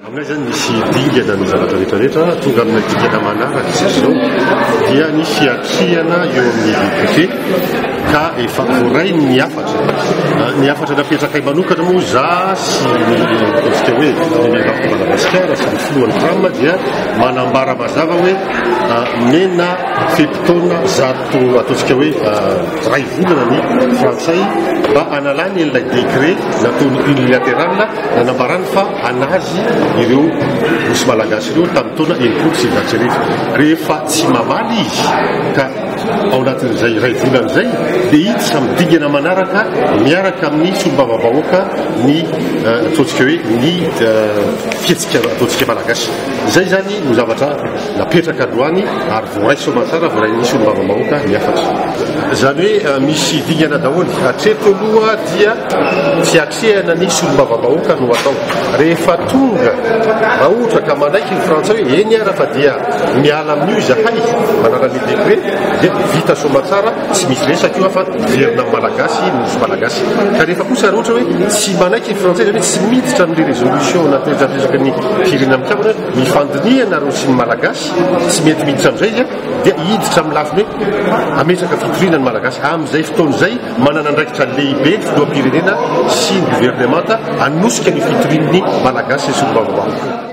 Aminay izany misy dingana ny zavatra rehetra rehetra, tonga amina dingana manaraka isika izao dia ny fiatrehana eo amin'ny VQP ka efa voarainy ny hafatra. Ah, ny hafatra napetrakay manokana moa za sy ny ataontsika hoe ny miaramila Madagasikara sy ny filohan'ny tram dia manambara mazava hoe ah, mena fe-potoana zato Tokony ataontsika hoe iray volana ny frantsay mba hanalany ilay décret nataony unilatéral nanambarany fa anazy ireo nosy malagasy ireo tamin'ny taona enimpolo sy sivinjato sy arivo. Rehefa tsy mamaly izy ka ao anatin'izay iray volana izay dia iny samy dingana manaraka miaraka amin'ny solombavambahoaka ny ataontsika hoe ny fihetsika ataontsika malagasy. Izay izany no zavatra Napetraka androany ary voaray soamantsara, voaray nisy solombavambahoaka ny hafatra. Izany hoe misy dingana daholo. Hatreto aloha dia tsy atrehana ny solombavambahoaka no atao. Rehefa tonga, raha ohatra ka manaiky ny frantsay hoe eny ara fa dia miala amin'io izahay, manala ny decret, dia vita soamantsara, tsy misy resaka io fa hiverina amin'ny malagasy ny nosy malagasy. Ka rehefa kosa raha ohatra hoe tsy manaiky ny frantsay, izany hoe tsy miditra amin'ilay resolution nateratesaky ny firenena mikambana, Ny fandinihana ary ozin'ny Malagasy tsy mety miditra amin'izay dia hiditra amin'ny lafiny hoe hametraka fitoriana ny Malagasy. Amin'izay fotoana izay, manana andraikitra lehibe ny filoham-pirenena sy ny governemanta hanosika ny fitorian'ny Malagasy sy ny solombavambahoaka.